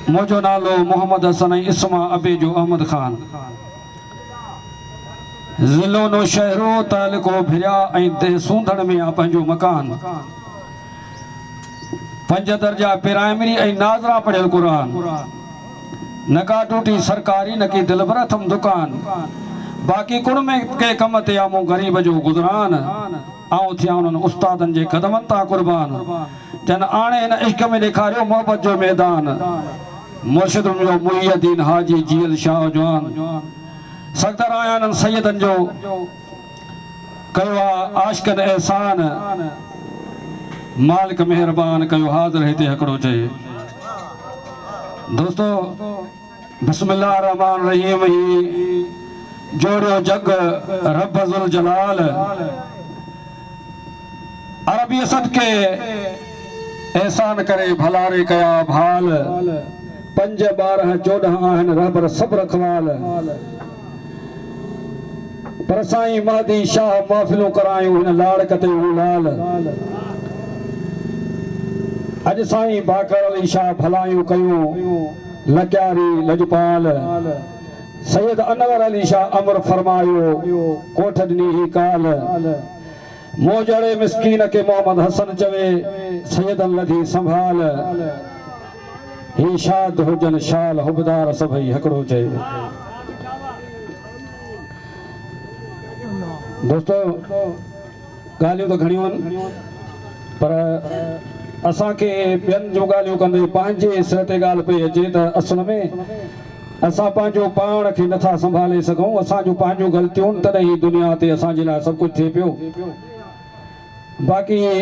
منهنجو نالو محمد حسن ۽ اسم آ ابي جو احمد خان ضلعو نوشهرو تعلقو ڀريا ۽ دهه سونڌڻ ۾ آ پنهنجو مڪان پنج درجا پرائمري ۽ ناظرا پڙهيل قرآن نڪا ٽوٽي سرڪاري نڪي دلبر اٿم دڪان باقي ڪڻ ۾ ڪي ڪم تي آ مون غريب جو گذران آئون ٿيان انهن استادن جي قدمن تان قربان جن آڻي هن عشق ۾ ڏيکاريو محبت جو ميدان مرشد منهنجو محي الدين حاجي جيئل شاهه جوان سکدر آهيان انهن سيدن جو ڪيو آ عاشقن احسان مالڪ مهربان ڪيو حاضر هتي هڪڙو چئي دوستو بسم الله الرحمٰن الرحيم هي جوڙيو جڳ رب ذوالجلال عربيء صدقي احسان ڪري ڀلاري ڪيا ڀال پنج ٻارهه چوڏهن آهن رهبر سڀ رکوال پر سائين مهدي شاهه محفلون ڪرايون هن لاڙڪ تي هو لال اڄ سائين باقر علي شاهه ڀلايون ڪيون لغاري لڄپال سيد انور علي شاهه امر فرمايو ڪوٺ ڏني هي ڪال مون جهڙي مسڪين کي محمد حسن چوي سيدن لڌي سنڀال هي شاد هجن شال حبدار سڀئي هڪڙو چئي دوستو ڳالهيون ته گهڻيون آهن پر اسان کي ٻين جون ڳالهيون ڪندي پنهنجي سر تي ڳالهه پئي اچي ته اصل ۾ اسان پنهنجو پاڻ کي نٿا سنڀالي سگهون، اسان جون پنهنجون غلطيون تڏهن هي دنيا تي اسان جي لاء سڀ ڪجهه ٿئي پيو باقي هي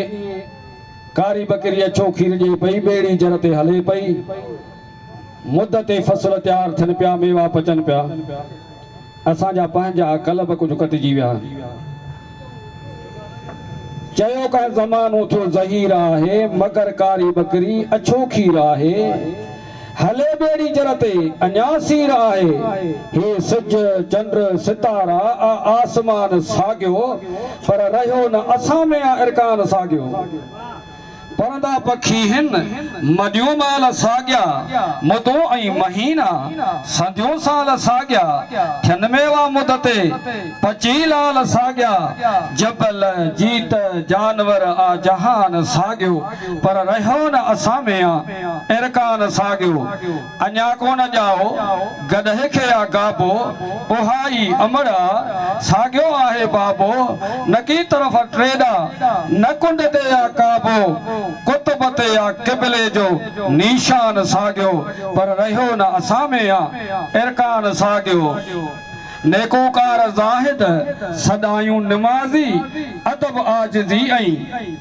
ڪاري ٻڪري اڇو کير ڏئي پئي ٻيڙي جر تي هلي پئي مد تي فصل تيار ٿين پيا ميوا پچن پيا. اسان جا پنهنجا قلب ڪجهه ڪٽجي ويا. چيو ڪانه زمانو ٿيو زهير آهي، مگر ڪاري ٻڪري اڇو کير آهي. هلي ٻيڙي جر تي اڃا سير آهي، هي سج، چنڊ، ستارا، آ آسمان ساڳيو، پر رهيو نه اسان ۾ آ ارڪان ساڳيو. پرندا پکي هن، مڏيون مال ساڳيا، مدون ۽ مهينا، سنديون سال ساڳيا، ٿين ميوا مد تي، پچي لال ساڳيا، جبل، جيت، جانور آ جهان ساڳيو، پر رهيو نه اسان ۾ آ، ارڪان ساڳيو. اڃا ڪو نه ڄائو گڏهه کي آ گابو، اها ئي امڙ آ ساڳيو آهي بابو، نڪي طرف ٽيڏا، نه ڪنڊ تي آ ڪابو، قطب تي آ قبلي جو نيشان ساڳيو، پر رهيو نه اسان ۾ آ ارڪان ساڳيو. نيڪوڪار زاهد، سڏايون نمازي، ادب عاجزي ۽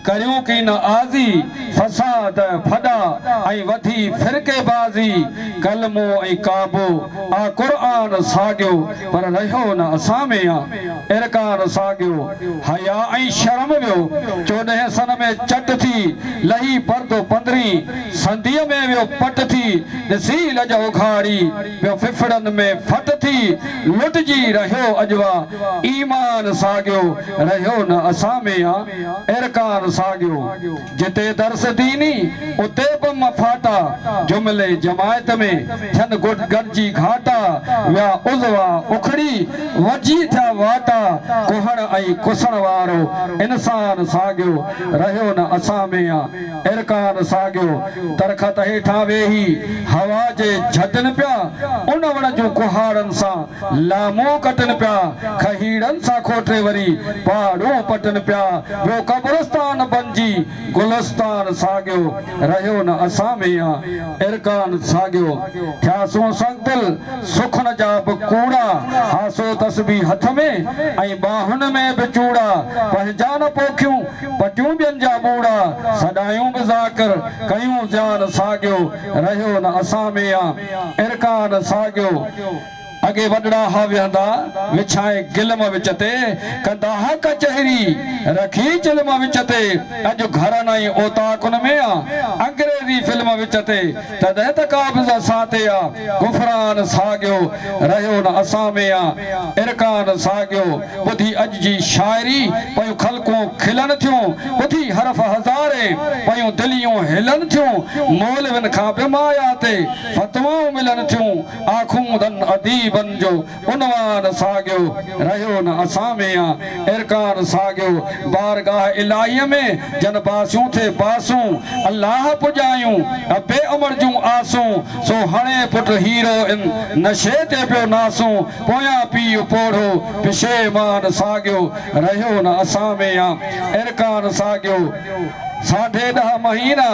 ڪريون ڪي نه آزي، فساد، ڦڏا ۽ وڌي فرقي بازي، ڪلمو ۽ ڪعبو آ قرآن ساڳيو، پر رهيو نه اسان ۾ آ ارڪان ساڳيو، حياء ۽ شرم ويو چوڏهين سن ۾ چٽ ٿي، لهي پردو پندرهين سنديء ۾ ويو پٽ ٿي، ڏسي لڄ اگهاڙي. پيو ڦڦڙن ۾ ڦٽ ٿي لٽجي رهيو اجوا ايمان ساڳيو رهيو نه اسان ۾ آ ارڪان ساڳيو جتي درس ديني اتي به مفاٽا جملي جماعت ۾ ٿين گڏ گڏجي گهاٽا ويا عضوا اکڙي وجهي ٿيا واٽا ڪهڻ ۽ ڪسڻ وارو انسان ساڳيو رهيو نه اسان ۾ آ ارڪان ساڳيو درخت هيٺان ويهي هوا جي جهٽن پيا، ان وڻ جون ڪهاڙن سان لامون ڪٽن پيا، کهيڙن سان کوٽي وري پهاڙون پٽن پيا، ٻيو قبرستان بنجي گلستان ساڳيو رهيو نه اسان ميان ارڪان ساڳيو ٿياسون سنگ دل سخن جا به ڪوڙا هاسو تسبيح هٿ ۾ ۽ ٻانهن ۾ به چوڙا پنهنجا نه پوکيون پٽيون ٻين جا ٻوڙا سڏايون به ذاڪر ڪيون جان ساڳيو رهيو نه اسان ۾ آ ارڪان ساڳيو اڳي وڏڙا ها ويهندا وڇائي گلم وچ تي ڪندا ها ڪچهري رکي چلم وچ تي اڄ گهرن ۽ اوطاقن ۾ آ انگريزي فلم وچ تي تڏهن ته قابض اسان تي آ غفران ساڳيو رهيو نه اسان ۾ آ ارڪان ساڳيو ٻڌي اڄ جي شاعري پيون خلقون کلن ٿيون ٻڌي حرف هزاري پيون دليون هلن ٿيون مولوين کان به مايا تي فتوائون ملن ٿيون آخوندن اديبن جو عنوان ساڳيو رهيو نه اسان ۾ آ ارڪان ساڳيو بارگاهه الاهيء ۾ جن باسيون ٿي باسون الله پڄايون ابي امڙ جون آسون سو هڻي پٽ هيرو ان نشي تي پيو ناسون پويان پيء پوڙهو پشيمان ساڳيو رهيو نه اسان ۾ يا ارڪان ساڳيو ساڍي ڏهه مهينا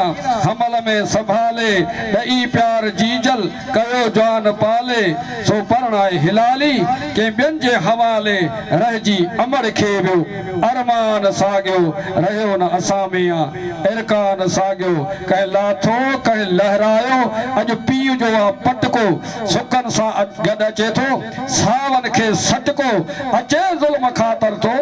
حمل ۾ سنڀالي ڏئي پيار جيجل ڪيو جان پالي سو پرڻائي هلالي ڪنهن ٻين جي حوالي رهجي امڙ کي ويو ارمان ساڳيو رهيو نه اسان ۾ يا ارڪان ساڳيو ڪنهن لاٿو ڪنهن لهرايو اڄ پيء جو آ پٽڪو سڪن سان گڏ اچي ٿو، ساون کي سٽڪو اچي ظلم کان تر ٿو،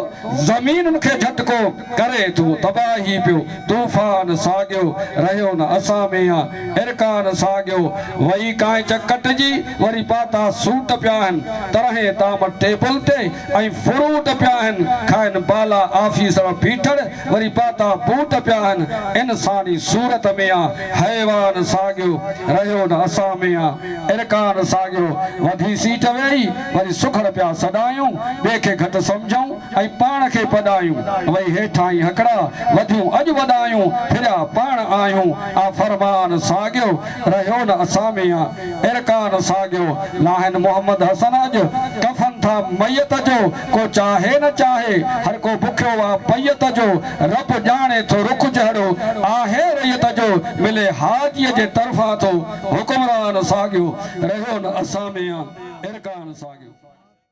زمينن کي جهٽڪو ڪري ٿو، تباهي پيو طوفان ساڳيو رهيو نه اسان ۾ آ ارڪان ساڳيو، وئي ڪانئچ ڪٽجي وري پاتا سوٽ پيا آهن، طرحين طعام ٽيبل تي ۽ فروٽ پيا آهن کائن بالا آفيسر بيٺڙ وري پاتا بوٽ پيا آهن، انساني صورت ۾ آ. حيوان ساڳيو رهيو نه اسان ۾ آ ارڪان ساڳيو وڌي سيٽ ويهي وري سگهڙ پيا سڏايون ٻئي کي گهٽ سمجهون ۽ پاڻ کي پڏايون وئي هيٺاهين هڪڙا وڌيون اڄ وڏايون ڦريا پاڻ آهيون آ فرمان ساڳيو رهيو نه اسان ۾ آ ارڪان ساڳيو لاهين محمد حسن اڄ ڪفن ٿا ميت جو ڪو چاهي نه چاهي هر ڪو بکيو آ پيئت جو رب ڄاڻي ٿو رخ جهڙو آهي رعيت جو ملي حاجيء جي طرفان ٿو حڪمران ساڳيو رهيو نه اسان ۾ آ ارڪان ساڳيو.